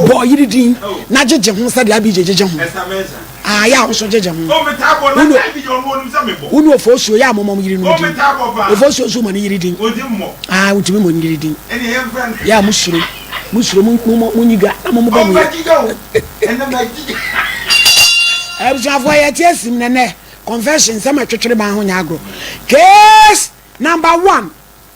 Bɔ ɔyere din na gyegye ho sɛdeɛ Abigye gyegye ho. Aa yɛ a wo nso gyegye ho. Wone Ofosuo yɛ a momɔ mo yerenom din. Ofosuo nso mɔ ne yere din. Aa wotumi mɔ ne yere din. Yɛ a mo suro mo suro mo nyi dwa na mo mo bɔ mo yere. Abusuafoɔ yɛte asim nɛnɛ confession sɛ matwetwere ban ho nyɛ agorɔ. Case number one.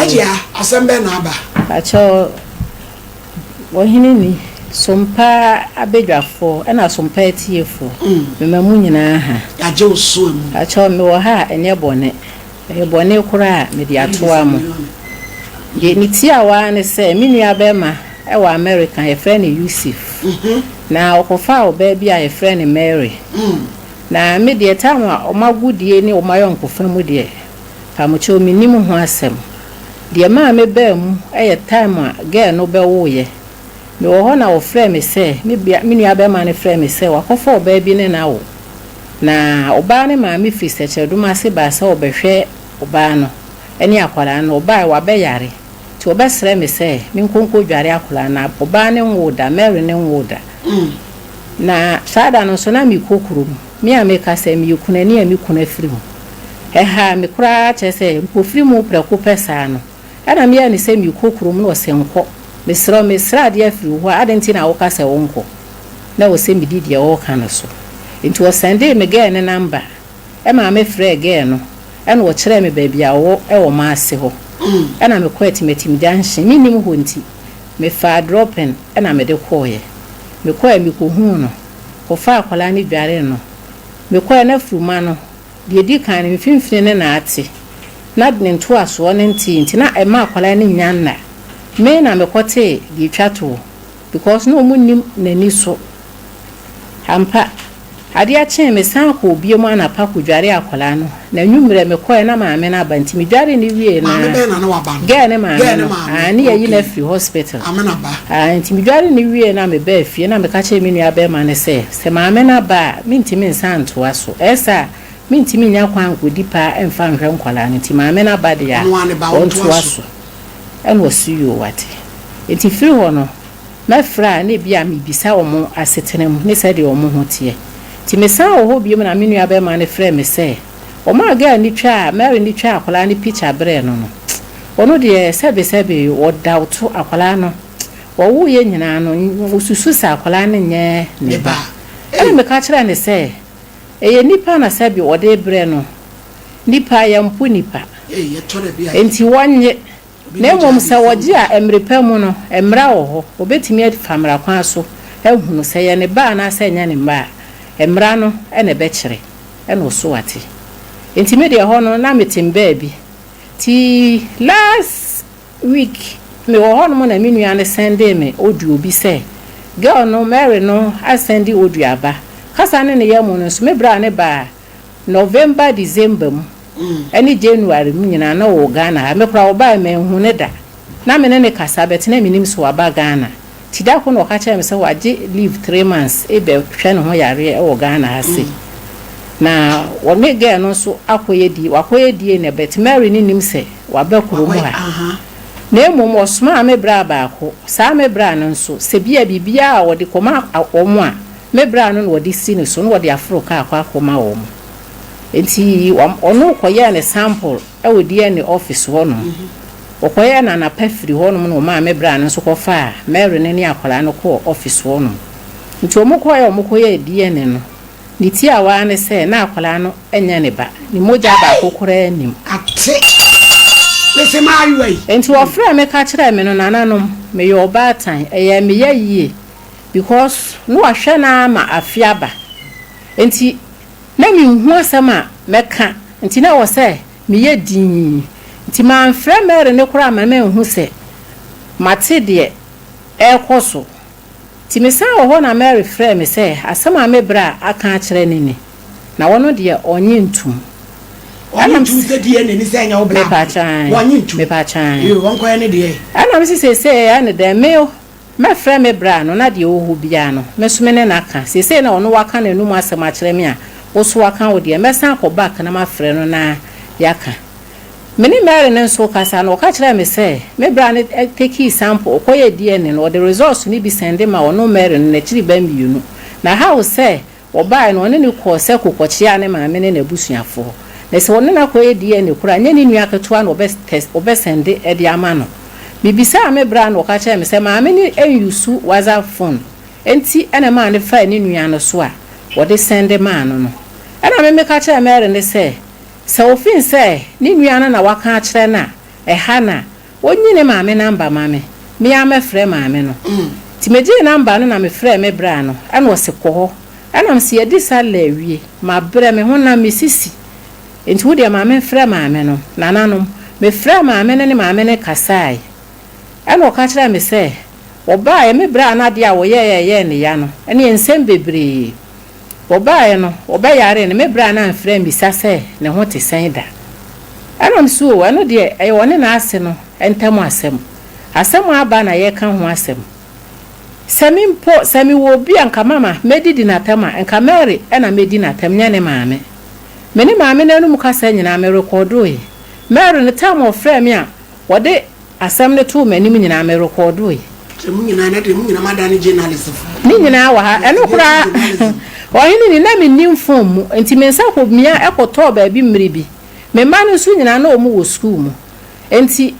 Ajia, asɛm bɛn na aba? Pakyɛw, Ɔhene ni, Sompa abadwafoɔ ɛna Sompa atiefoɔ, mema mo nyinaa ha. Yɛagye wo so amu. Pakyɛw, mewɔ ha a, ɛnyɛ bɔne. Ɛyɛ bɔne koraa a, mede atoa mo. Deɛ metiawa ara ne sɛ, me nuabarima wɔ Amerika, yɛfrɛ no Yusif, na ɔkɔfaa ɔbaa bi a yɛfrɛ no Mary, na me deɛ, tam a wɔn agodie ne wɔn ayɔnkofa mu deɛ, Pamokyɛw minnim ho asɛm. Deɛ ɛmaa mebaa mu yɛ time a girl no bɛwoeɛ. Mewɔ hɔ na wɔfrɛɛ me sɛ, me bea, me nua bɛrima no frɛɛ me sɛ wakɔfa ɔbaa bi ne no awo. Na ɔbaa no maame firi Sɛkyerɛdom ase baa sɛ ɔrebɛhwɛ ɔbaa no ne akwadaa no. Ɔbaeɛ, wabɛyare. Nti wɔbɛsrɛɛ me sɛ menkɔ nkɔdware akwadaa no. Ɔbaa no nwoo da, Mary no nwoo da. Na saa da no nso na merekɔ kurom. Me a meka sɛ meyɛ kunani a me kunu afiri mu. Ɛhaa me koraa kyerɛ sɛ mpofirim mu prɛko pɛ saa no, ɛna meyɛɛ no sɛ merekɔ kurom na ɔse nkɔ. Mesrɛ wo, mesrɛ adeɛ afiri wo hɔ a, adɛn nti na woka sɛ wonkɔ? Na ɛwɔ sɛ medi deɛ ɔreka no so. Enti ɔsɛndee me gɛɛ no namba. Ɛmaa me frɛɛ gɛɛ no, ɛna ɔkyerɛɛ me baabi a ɔwɔ ɛwɔ Maase hɔ. Ɛna mekɔɔ Atimatim Junction, mennim hɔ nti, mefaa drɔpen ɛna mede kɔeɛ. Mekɔeɛ mekɔhuu no. kɔfaa akwadaa no dwaree no. Mekɔeɛ no afuruma no, deɛ ɛdi kan no, mfimfini no na ate, na ne ntoasoɔ no ntee nti na ɛmma akwadaa no nnya nna. Me na mekɔtee deɛ ɛtwa toɔ because na wɔnnim n'ani so. Ampa, adeɛ kyee mesan kɔɔ bio mu anapa kɔdwaree akwadaa no. Na anwummerɛ mekɔɛ na maame no aba nti medware no wiee na Maame bɛn na na waba no? Girl ne maame Girl ne no maame. aah ne yɛayi no Okay. afiri hospital Maame na ba. aah nti medware no wiee na mebaa fie na meka kyerɛɛ me nua bɛrima no sɛ sɛ maame no aba a mentumi nsan ntoa so ɛyɛ saa a mentumi nnya kwan nkɔdi paa mfa nhwɛ nkwadaa no nti maame no aba deɛ a Ɔno ara ne ba, ɔntoa ɔntoa so. so ɛna ɔse yoo wate nti firi hɔ no Mɛfrɛ a, na ebia mibisa wɔn asetena mu ne sɛdeɛ wɔn ho teɛ. Enti mesan wɔ hɔ bio na me nua barima no frɛɛ me sɛ, Wɔmaa girl no twaa, Mary no twaa akwadaa no picture brɛɛ no no, ɔno deɛ sɛbesɛbe wɔdaoto akwadaa no, wɔwoeɛ nyinaa no, ɔsusu sɛ akwadaa no nyɛ ne ba. Ɛna meka kyerɛɛ no sɛ, Ɛyɛ nipa na sɛbe wɔde rebrɛ no, nipa, yɛmpo nipa. Enti wɔnnye. Na mmom sɛ wɔgye a, mmere pa mu no, mmara wɔ hɔ. Wɔbɛtumi afa mmara kwan so ahunu sɛ ɛyɛ ne ba anaasɛ ɛnyɛ ne mma a, mmara no na ɛbɛkyerɛ, ɛna ɔso wate. Enti me deɛ hɔ no, na mete mbaa bi. Nti last week, mewɔ hɔ nom na me nua no sɛndee me audio bi sɛ, girl no, Mary no asɛnde audio aba. Kasa ne ne yam no nso, me bra ne baa November December mu ɛne January mu nyinaa na ɔwɔ Ghana ha me koraa ɔbaeɛ manhu no da na me ne no kasa but na menim sɛ waba Ghana nti da koro na ɔka kyerɛɛ me sɛ wagye leave three months rebɛ hwɛ ne ho yareɛ wɔ Ghana ha sei na ɔne girl no nso akɔ yɛ die wakɔ yɛ die nɛ but Mary no nim sɛ waba kuro mu ha na mmom ɔsomaa me bra baako saa me bra no nso sɛ bia biribiara a ɔde kɔma wɔn a Me bra no na wɔde si ne so na wɔde aforo kaa kɔ akɔma wɔn. Enti ɔno kɔyɛɛ ne sample wɔ DNA office hɔnom. Wɔkɔyɛɛ no anapa firii hɔnom na wɔmaa me bra no nso kɔfaa Mary no ne akwadaa no kɔɔ office hɔnom. Nti wɔkɔeɛ a wɔkɔyɛɛ DNA no, ne tiawa ara ne sɛ na akwadaa no nyɛ ne ba. Ne mogya baako koraa nnim. Ate! Mese m'ayowa yi! Enti wɔfrɛɛ me ka kyerɛɛ me no, Nananom, meyɛ ɔbaatan. Ɛyɛɛ me ya yie because na wahwɛ no ara ma afe aba nti na menhu asɛm a mɛka nti na ɛwɔ sɛ meyɛ dinn nti mamfrɛ Mary no koraa amma manhu sɛ mate deɛ ɛrekɔ so nti mesan wɔ hɔ na Mary frɛɛ me sɛ asɛm a me bra aka akyerɛ no ni na ɔno deɛ ɔnnye ntom Ɔnye ntum sɛ deɛ n'ani sɛ ɛnyɛ wo bra Mepatwaa Ɔnye ntum mepatwaa Yo ɔnkɔyɛ ne deɛ Ɛna me se seesei ɛyɛ ne dɛn me Mɛfrɛ me braa no, na deɛ ɔwɔ hɔ biara no, me nso me ne no aka. Seesei na ɔno waka n'anom asɛm akyerɛ me a, wo nso woaka wo deɛ. Mɛsan akɔ back na mafrɛ no na yɛaka. Me ne Mary no nso kasa no, ɔka kyerɛɛ me sɛ, me braa no tekii sample, ɔkɔyɛɛ DNA no, ɔde results no bi sɛnde maa ɔno Mary no n'akyiriba mmienu. Na how sɛ Wɔbaeɛ no, ɔne no kɔɔ sɛ kokɔkyeaa ne maame ne n'abusuafoɔ. Na sɛ ɔne no akɔyɛ DNA koraa a, nyɛ ne nua ketewa na ɔbɛsɛnde de ama no. Mebisaa me bra na ɔka kyerɛɛ me sɛ maame no nnyusu WhatsApp phone nti na ɛmaa no faa ne nua no so a ɔde sɛnde maa no no. Ɛna me meka kyerɛɛ Mary no sɛ, sɛ ɔfeel sɛ ne nua no na waka akyerɛ no a, ɛha no a, Ɔnyi ne maame namba ma me, me ara mɛfrɛ maame no. Nti megyee namba no na mefrɛɛ me bra no, ɛna ɔse kɔ hɔ. Ɛna mese yɛadi salla awie, mabrɛ, me ho nam, me sisi. Nti wodeɛ ma memfrɛ maame no. Nananom, mefrɛɛ maame no ne maame no kasaeɛ. Ɛna ɔka kyerɛɛ me sɛ, ɔbaaeɛ, me braa no adeɛ a ɔyɛeɛ a ɛyɛɛ no ya no, ɛneɛ nsɛm bebree. Wɔbaeɛ no, wɔbɛyaree no, me berɛ a na amfiri ammisa sɛ ne ho te sɛn da. Ɛnam nso o, ɛno deɛ, ɛyɛ ɔne n'ase no ntam asɛm. Asɛm a aba na yɛreka ho asɛm. Sɛ me mpo, sɛ mewɔ obi a nka Mama mɛdidi no atɛm a, nka Mary na mɛdi no atɛm, nyɛ ne maame. Me ne maame no anum kasa nyinaa, merekɔɔdoeɛ. Mary no, time a ɔfrɛɛ me a, wɔde. Asɛm no too m'anim nyinaa, me rekɔɔdoe. Sɛ mo nyinaa na deɛ mo nyinaa mo adane journalistfoɔ. Ne nyinaa wɔ ha. Ɛno koraa Ɔhene ni, na mennim fon mu, nti me nsa kɔ mia kɔtɔɔ baabi mmere bi. Me mma no nso nyinaa na wɔn wɔ sukuu mu. Nti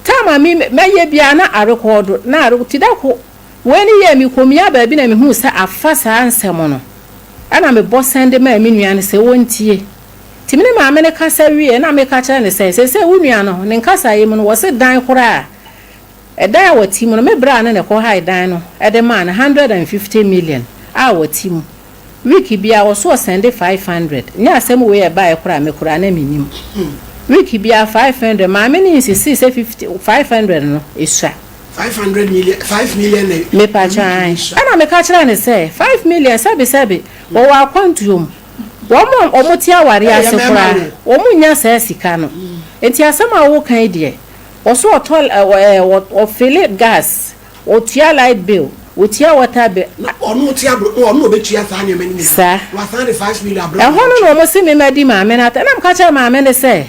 time a me mɛyɛ biara na arekɔɔdo, na arekɔ, ti da ko wei ne yɛɛ me kɔ mia baabi na me huu sɛ afa saa nsɛm no, ɛna me bɔ sɛnde maa me nua no sɛ wɔntie. Nti me ne maame no kasa wieeɛ na meka kyerɛɛ no sɛ, seesei wo nua no, ne nkasaeɛ mu no, wɔse dan koraa, ɛdan a wɔte mu no, me braa no na ɛkɔhae dan no de maa no hundred and fifty million a wɔte mu. Week biara wɔse ɔsɛnde five hundred. Nyɛ asɛm wei ɛbaeɛ koraa a, me koraa na mennim. Week biara five hundred, maame no insistee sɛ fifty, five hundred no sua. Five hundred million, five million na week no sua. Mepakyɛw, aane. Ɛna meka kyerɛɛ no sɛ, five million, sɛbesɛbe wɔwɔ akwantuo mu. Wɔn a wɔte awareɛ ase koraa, wɔnnya saa sika no. Enti asɛm a woka yi deɛ, wɔ so wɔtɔ ɛɛ wɔfele gas, wɔtua light bill, wɔtua water bill. Na ɔno ɔte aburo, ɔno na ɔbɛtua saa nneɛma no nyinaa. Saa. Wasan de five million abrɛ wɔn. Ɛhɔ no na wɔsi mema di maame no atɛm. Ɛna meka kyerɛɛ maame no sɛ,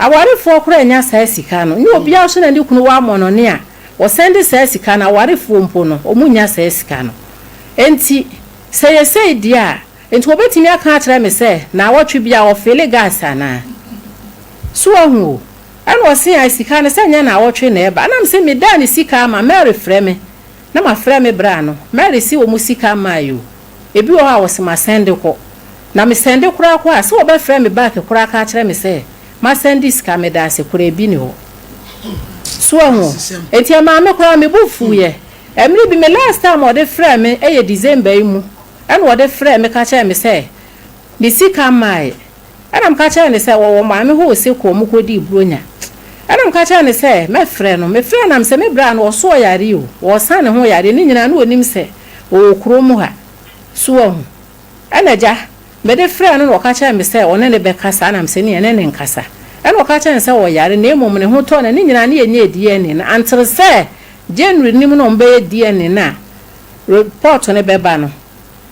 awarefoɔ koraa nnya saa sika no. Nyɛ obiara nso na ne kunu wɔ amɔnɔne a wɔsɛnde saa sika no, awarefoɔ mpo no, wɔnnya saa sika no. Enti sɛ ɛyɛ sei deɛ a, Enti wobetumi aka akyerɛ me sɛ naawɔtwe biara wɔfeele gas anaa? So woahu o? Ɛnna ɔse, Ae, sika no, sɛ nyɛ naawɔtwe na ɛba. Ɛnam sɛ medaa ne sika ama, Mary frɛ me, na mafrɛ me bra no, Mary se wɔn sika mmae o. Ebi wɔ hɔ a wɔse masɛnde kɔ. Na mesɛnde koraa kɔ a, sɛ wɔbɛfrɛ me back koraa aka akyerɛ me sɛ masɛnde sika, medaase koraa ebi nni hɔ. So woahu o? Enti ɛmaa me koraa me bo fuiɛ. Mmere bi, me last time a ɔde frɛɛ me yɛ December yi mu. Ɛnna ɔde frɛɛ me ka kyerɛɛ me sɛ, Me sika mmaeɛ. Ɛnna meka kyerɛɛ no sɛ, Wɔwɔ Maame hɔ Osekoɔ, mokɔdii Buronya. Ɛnna meka kyerɛɛ no sɛ, Mɛfrɛ no. Mefrɛɛ no, na mesɛ, Me bra no, ɔso ɔyare o, ɔresa ne ho yareɛ, ne nyinaa na ɔnim sɛ ɔwɔ kurom ha. So woahu? Ɛnna agya, mede frɛɛ no na ɔka kyerɛɛ me sɛ ɔne ne bɛkasa, ɛnna mesɛ, Ne yɛne ne nkasa. Ɛnna ɔka kyerɛɛ no sɛ ɔyare, na mmom ne ho tɔɔ no, ne nyinaa na yɛnyɛɛ DNA no. Antere sɛ January no mu na wɔbɛyɛ DNA no a, Repɔɔto no bɛba no,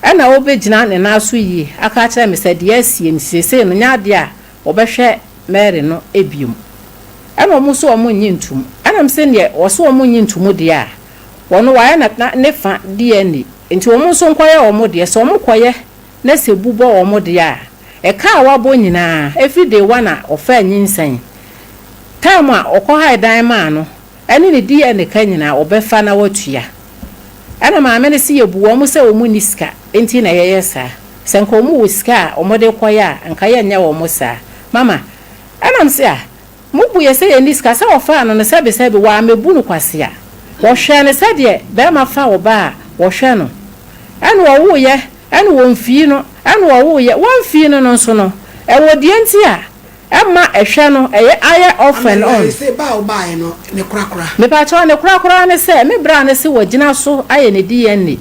ɛnna wobegyina ne nan so yie aka akyerɛ me sɛ deɛ asie nti seesei no, nyɛ adeɛ a wɔbɛhwɛ Mary no bio. Ɛnna wɔn nso wɔnnye ntom. Ɛnna me se deɛ wɔse wɔnnye ntom deɛ a, wɔn wɔayɛ no ne fa DNA, nti wɔn nso nkɔyɛ wɔn deɛ. Sɛ wɔkɔyɛ na sɛ bu bɔ wɔn deɛ a, ɛka a wɔabɔ nyinaa, ɛfiri day one a wɔfaa nyinsɛn, time a wɔkɔhae dan maa no, Ɛne ne deɛ ne ka nyinaa wɔbɛfa na wɔatua. Ɛna maame no se yɛbu wɔn sɛ wɔn nni sika nti na yɛyɛ saa. Sɛ nka wɔn wɔ sika a wɔde rekɔyɛ a nka yɛnyɛ wɔn saa. Mama, Ɛna me se ah, mobu yɛ sɛ yɛnni sika sɛ wɔfaa no no sɛbe sɛbe wɔammɛbu no kwasea. Wɔhwɛɛ no sɛdeɛ barima fa ɔbaa a wɔhwɛ no. Ɛna wɔwoeɛ ɛna wɔmfii no. Ɛna wɔwoeɛ wɔmfii no no nso no ɛwɔ deɛ nti a. Ɛma ɛhwɛ no ɛyɛ ayɛ often on. Amelia, Ese ba a wobaeɛ no, ne korakora? Mepakyɛw, ne korakora ne sɛ me bra no se wagyina so ayɛ ne DNA.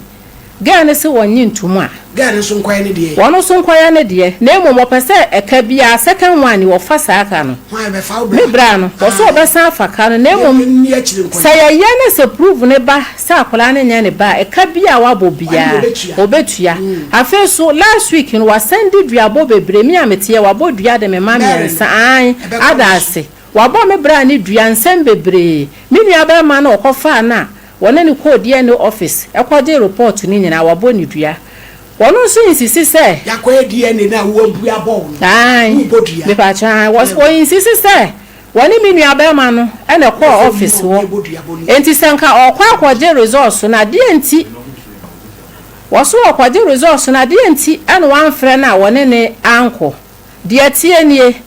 Girl no se wɔnnye ntom a. Girl no nso nkɔyɛ ne deɛ. Wɔn nso nkɔyɛ ne deɛ. Na mmom wɔpɛ sɛ ɛka biara, second one, wɔfa saa ka no. Hwan, ɛbɛfa wo bra? Me bra no. Wɔse wɔbɛsan afa ka no, na mmom. Yɛn ni akyire nkɔyɛ. Sɛ yɛyɛ na sɛ prove no ba Sɛ akwadaa no nyɛ ne ba a, ɛka biara a wabɔ biara, ɔbɛtua. Afei nso, last week no, wasan di duabɔ bebree. Me a meteɛ, wabɔ dua de me mma mmiɛnsa, aane, ada ase. Wabɔ me bra ne dua, nsɛm bebree. Me nua barima no a ɔkɔfaa no a wɔne no kɔɔ DNA office kɔgyee report no nyinaa, wabɔ no dua. Ɔno nso insist sɛ. Yɛakɔyɛ DNA no a, wabua bɔɔ no, Aane, worebɔ dua. mepakyɛw, aane, ɔinsist sɛ. Wɔne me nuabarima no na ɛkɔɔ ɔfese hɔ. Enti sɛ anka ɔrekɔ akɔgye results no a, deɛn nti? Wɔso wɔrekɔgye results no a, deɛn nti na wɔamfrɛ no a wɔne no ankɔ? Deɛ ɛteɛ nie,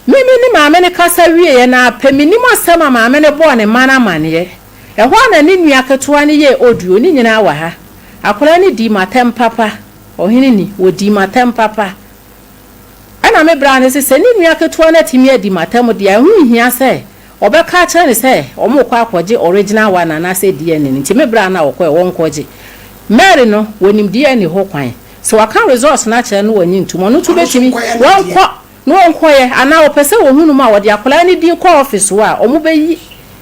me me ne maame no kasa wieeɛ no ara pɛ, mennim asɛm a maame no bɔɔ ne mma no amaneɛ. Ɛhɔ ara na ne nua ketewa no yɛɛ audio, ne nyinaa wɔ ha. Akwadaa no dii m'atɛm papa, Ɔhene ni, wɔdii m'atɛm papa. Ɛnna me bra ne sɛ, sɛ ne nua ketewa no atumi adi m'atam deɛ a, ɛho nhia sɛ wɔbɛka akyerɛ no sɛ wɔrekɔ akɔgye original one anaasɛ DNA no nti me bra no a wɔkɔɛ wɔnkɔgye. Mary no, wɔnim DNA hɔ kwan. Sɛ wɔaka results no akyerɛ no na wɔnnye ntom, ɔno nso bɛtumi, wɔnkɔ na wɔnkɔyɛ anaa wɔpɛ sɛ wɔhunu mu a, wɔde akwadaa no din kɔ office hɔ a, wɔbɛyi.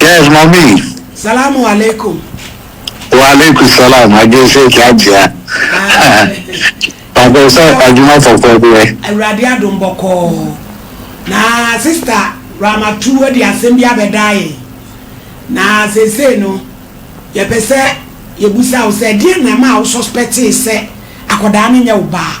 Yes, mommy. Salamu alaikum. Wa alaikum salam. Agese ki ajia. Papa sɛ adwuma fɔfɔ bi ɛ. Awurade adom bɔkɔɔ. Na sista Ramatu de asɛm bi abɛda yɛn. Na seesei no yɛpɛ sɛ yɛbusa wo sɛ ɛdeɛ na ɛma wo suspectee sɛ akɔdaa no nyɛ wo baa?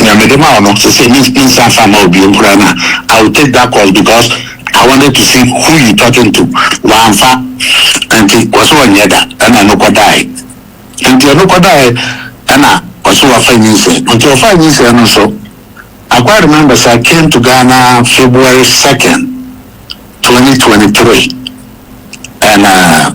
Nea mede ma wo no, seesei mensan nsan mma wo bio koraa na I will take that course because I wanted to see who you talking to. Wamfa. Enti ɔse ɔnyɛ da ɛna ɛno kɔdaeɛ. Enti ɛno kɔdaeɛ ɛna ɔse wafa nyinsɛn. Enti ɔfaa nyinsɛn no nso, I quite remember sɛ I came to Ghana February second, twenty twenty three and uh,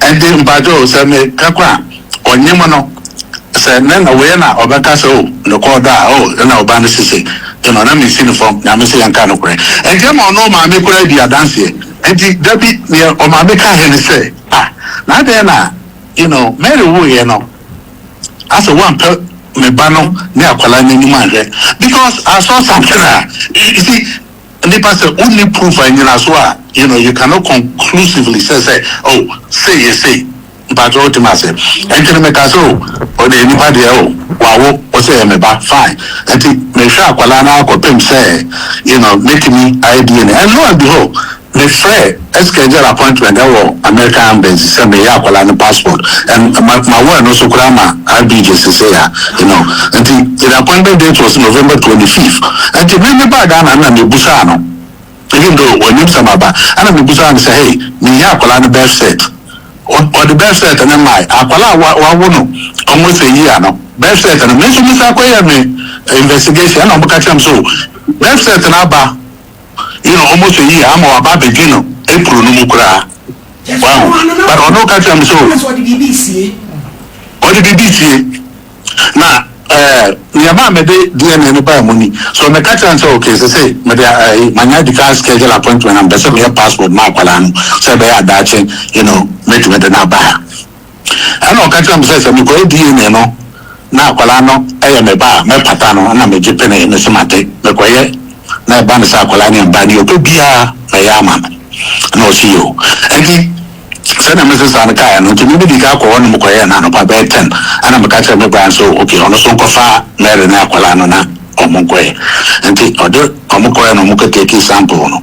Ɛnti mpakyɛ o sɛ me pɛ kɔ a ɔnye mo no sɛ nɛ na wei ɛna ɔbɛka sɛ o me kɔ ɔdɔ a o ɛna ɔba no sese nti no na me si no fam nyame se yɛnka nokorɛ ɛnti ɛma ɔne ɔmaame koraa di adanseɛ ɛnti dabi neɛ ɔmaame ka he ne sɛ a na adɛn na you know Mary woeɛ no asɛ woampɛ me ba no ne akwadaa no anim anhwɛ because I saw something a you see Nipa sɛ wonni proof a nnyinaso a you know you cannot conclusively sɛ sɛ oh sei yɛ sei mpakyɛ wote me ase nti no meka sɛ oh odeɛ nipa deɛ oh wawo wo sɛ yɛ me ba fine nti mehwɛ akwadaa no ara kɔpem sɛ you know mɛtumi ayɛ DNA and lo and behold mefrɛ Esker gyaa appointment ɛwɔ American embassy sɛ me yɛ akwadaa no passport and ma ma wɔ ɛno so koraa ma RBJ sesei a you know nti yɛn appointment date was November twenty fifth nti me me baa Ghana no na me busaa no even though wɔnim sɛ ma ba ɛna me busaa no sɛ hey me yɛ akwadaa no birth cert ɔ ɔde birth cert no mae akwadaa a wa wawo no almost a year no birth cert no me nso me san kɔ yɛ me investigation ɛna wɔn ka kyerɛ me so birth cert no aba. nna ɔwɔ mo sɛ yie ama ɔaba abɛgye no kuro no mu koraa. Wahu? But ɔno ɔka kyerɛɛ me sɛ, Oh, ɔde biribi resie. Na ɛɛ, nea ɛmaa mede DNA no baa mu ni. So meka kyerɛɛ no sɛ, Okay, seesei mede ɛɛ, manya adi kan aschedule appointment na mepɛ sɛ meyɛ passport ma akwadaa no sɛ ɛbɛyɛ a daakye, you know, mɛtumi de no aba ha. Ɛna ɔka kyerɛɛ me sɛ, sɛ mekɔyɛ DNA no na akwadaa no yɛ me ba a, mɛpata no. Ɛna megye penee, mese, Mate. Mekɔyɛ na ɛba no sɛ akwadaa no yɛ me ba a, deɛ ɔpɛ biara mɛyɛ ama no. Ɛna ɔse, Yiw. Enti sɛdeɛ mese saa no kaeɛ no, enti me medii kan kɔɔ hɔ na mekɔyɛɛ no anɔpa bɛyɛ ten. Ɛna meka kyerɛɛ me Brian sɛ, Ok, ɔno nso nkɔfa Mary ne akwadaa no na wɔnkɔyɛ. Enti ɔde wɔn kɔeɛ na wɔkɔtekii sample no.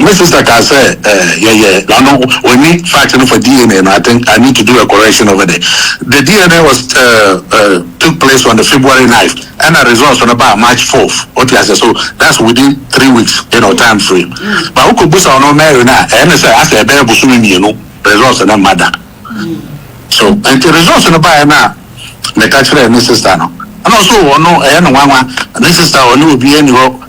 Me sister kaa sɛ yɛyɛ nano ɔnni fact no for DNA no I think I need to do a correction over there the DNA was took place on the February ninth ɛna results no baa March fourth wote aseɛ so that's within three weeks you know time frame but wokɔ busa ɔno Mary no a ɛyɛ ne sɛ asɛ ɛbɛyɛ bosome mmienu results no mma da so nti results no baeɛ no a meka kyerɛɛ ne sister no ɛna ɔso ɔno ɛyɛ no nwanwa ne sister ɔne obiara nni hɔ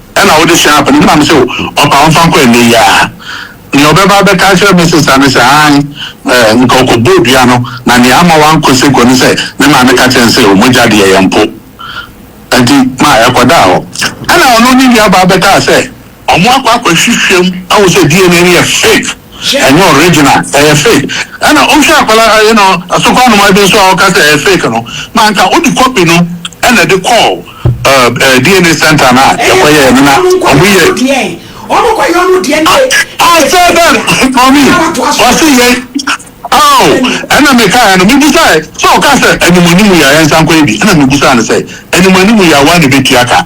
Ɛna wode hyɛɛ apanim na mese wo, Ɔpa mfa nkɔ ɛnnɛ yi ara. Nea ɔbɛba abɛka akyerɛ me sesa ne sɛ, Aane, nka ɔkɔbɔɔ dua no, na nea ama wankɔ seko ne sɛ ne maame ka kyerɛɛ no sɛ, Mogya deɛ yɛmpo. Enti ma ɛkɔdaa hɔ. Ɛna ɔno ne nuabaa bɛkaa sɛ, Wɔakɔ akɔhwehwɛm ahu sɛ DNA no yɛ fake. Ɛnyɛ original, ɛyɛ fake. Ɛna wohwɛ akwadaa you know asoko anomaa bi nso a ɔka sɛ ɛyɛ fake no, ma anka wode copy no ɛna de kɔɔ ɛɛ DNA center no a yɛkɔ yɛɛ no na ɔmo yɛ. I I said that for me, ɔse yɛn oh ɛna me kaeɛ no me busaɛ sɛ ɔka sɛ anim anim yɛ a yɛnsan kɔyɛ bi ɛna me busaa no sɛ anim anim yɛ a woa na ɛbɛtua ka.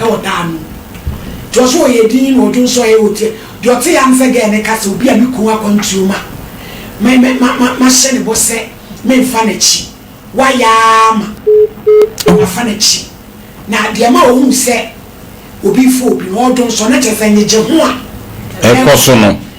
wɔ daa no mu. Nti ɔse ɔyɛ din na ɔdwo nso ɔyɛ ote deɛ ɔte ya ne sɛ girl no ka sɛ obi a me kun akwantuo ma me me ma ma mahyɛ ne bɔ sɛ me nfa n'akyi wayɛ aa ma mafa n'akyi na deɛ ɛma ɔhuu sɛ obi fɔ obi no ɔdwo nso na kyerɛ sɛ nyegye ho a ɛkɔ so no.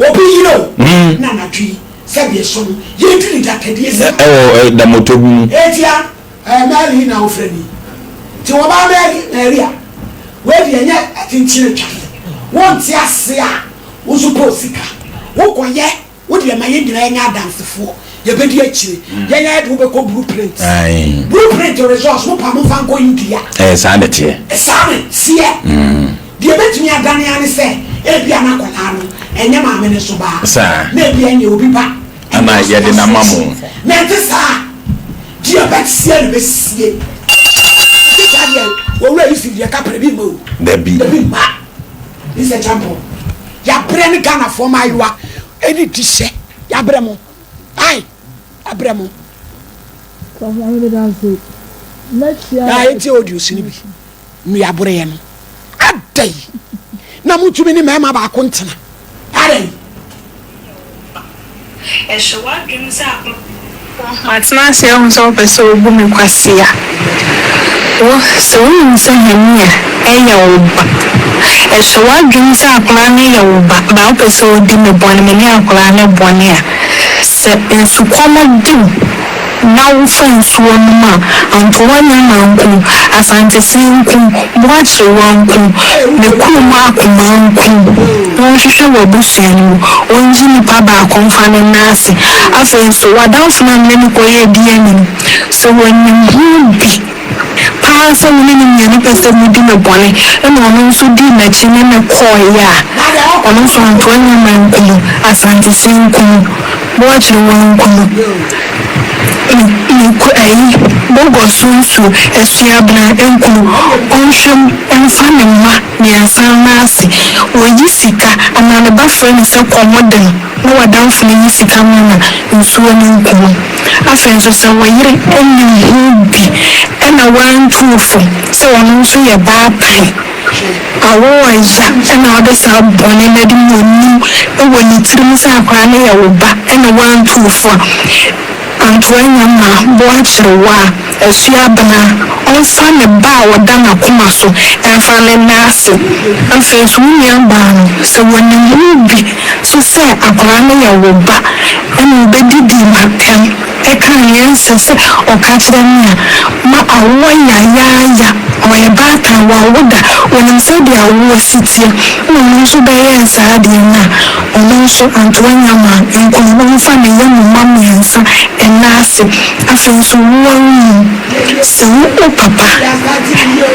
Obi yere o, na anadwo yi sɛ deɛ ɛsɔ no, yɛredu ne dapɛdeɛ si no. Ɛwɔ da mɔtɔ bi mu. Eti a, ɛɛ Mary na wofrɛ me yi. Te wɔba Mary, Mary a, wei deɛ ɛnyɛ akyinkyini twadeɛ. Wonte aseɛ a, wo nso pɛ osika. Wokɔyɛ, wo deɛ ma yɛn nyinaa nyɛ adansefoɔ. yɛbɛdi akyire hmm. yɛn ayɛ de wobɛkɔ blue print blue print resource wo pa mo fa nkɔ india ɛɛ eh, saa ne teɛ eh, saa ne seɛ hmm. deɛ bɛtumi adane ane sɛ ebia no akwadaa no ɛnyɛ maame ne so baa na ebia nyɛ obi ba ana yɛde no ama mo na ɛte saa deɛ bɛteɛ no bɛsie ɛte saa deɛ wɔwura yi si deɛ kaprɛ bi mma o dabi dabi mma ne sɛ kyampɔ yɛabrɛ ne ghanafoɔ ma ayewa ɛne di hyɛ Yɛabrɛ mo. Ae, yɛabrɛ mo. Aa yɛntie audios no bi. Nnua boreyɛ no. Adɛn na motumi ne mmarima baako ntena? Adɛn? Ɛhyɛ w'adwene sɛ ababaa. Matena ase ahu sɛ wopɛ sɛ wobu me kwasea. Wo, sɛ wonim sɛ Hania yɛ wo ba, ɛhyɛ w'adwene sɛ akwadaa no yɛ wo ba, baa wopɛ sɛ wodi me bɔne, me ne akwadaa no bɔne a. Sɛ nsukɔm de wo na wofa nsuo nom a, anka woanya manku, Asantesee nku, Boakyere woanku, me kurom akoma nku. Wɔnhwehwɛ w'abusua no mu. Wɔngye nipa baako mfa no nna ase. Afei nso, w'adamfo no mmrɛ no kɔ yɛ di anim. Sɛ wɔnim ho bi paa sɛ wo ne no nyɛ ne pɛ sɛ mudi no bɔne na ɔno nso dii n'akyi ne no kɔeɛ a, ɔno nso anto anyɛ ma anku no. Asantesin nku no. Boakyere wo anku no. Me, me ku ayi, Bogor so nsuo, Asuabena, anku no. Ɔnhwɛ mu mfa ne mma. Mmiɛnsa no ase, wɔyi sika anaa ne ba frɛ no sɛ kɔ mo de no na w'adamfo no nyi sika mma no a, nsuo no nku no. Afei nso sɛ wo yere nim ho bi na wantuo fam sɛ ɔno nso yɛ baapan a, wo a ya na wode saa bɔne no adi na ɔnim wɔ ne tirim sɛ akwadaa no yɛ wo ba na wantuo fo a, Antoania ma Boakyere wo a, asua abena. Ɔmfa ne ba a ɔda n'akoma so mfa no nna ase. Afei nso, wo nuabaa no, sɛ wɔnim mu bi nso sɛ akwadaa no yɛ wo ba na wɔbɛdidi no atɛm ka nea ɛnsɛ sɛ ɔka kyerɛ no a, ma awoɔ yayaaya. Ɔyɛ baatan, wawo da, ɔnim sɛdeɛ awoɔ si teɛ, na ɔno nso bɛyɛɛ saa deɛ no a, Ɔno nso antoa nnya ma ɛnkɔ no, na ɔmfa ne yam mma mmiɛnsa nna ase. Afei nso, wo ara wonim sɛ wo wo papa,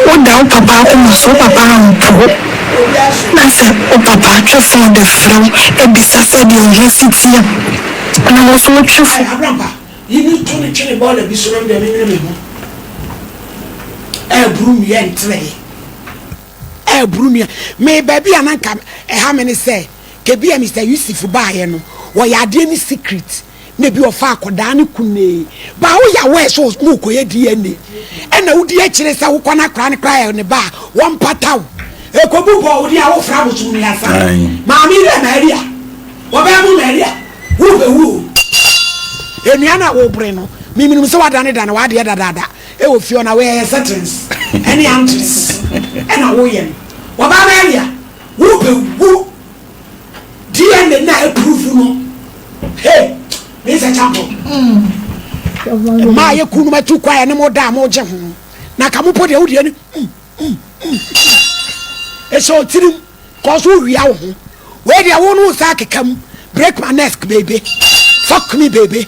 woda wo papa akoma so, wo papa ampo wo, na sɛ wo papa twe fo de frɛ wo bisa sɛdeɛ wo ho si teɛ a, na wo nso wotwe fo. Ayɛ abraba, yi no to no twene bɔɔla bi so na me deɛ menwene me ho ɛreboro nnua ntere. Eh bro nua, me baabi a na nka ɛha me ne sɛ, kɛbi a Mister Yusuf baayɛ no, wɔyɛ adeɛ ne secret, na ebi wɔfa akɔdaa no kunee, but woyɛ aware sɛ mookɔyɛ DNA, ɛna wodi akyire sɛ wokɔ no akɔraa no koraa yɛ ne ba a, wɔmpata wo. Ɛkɔbu bɔ wo deɛ a wofra abosom no yasa, maame dɛ Maria, wɔbɛɛ mo Maria, worebɛwu o. Enua no a wobrɛ no, memenim sɛ woadanedane w'adeɛ dadaada. Wɔ fie hɔ na woyɛ yɛn settings ne yɛn ankyere sisi na woyɛ no. Wɔbaa no earlier wobɛwu DNA no a ɛpuruvu no hey me nsɛ champo. Mmaa a yɛku no matu kwa ɛne mo da a mogye ho na ka mo po deɛ wodeɛ no ɛhyɛ ɔtirim kɔɔ so wowia wo ho wei deɛ wo no wo sa akeka mu break my neck baby fuck me baby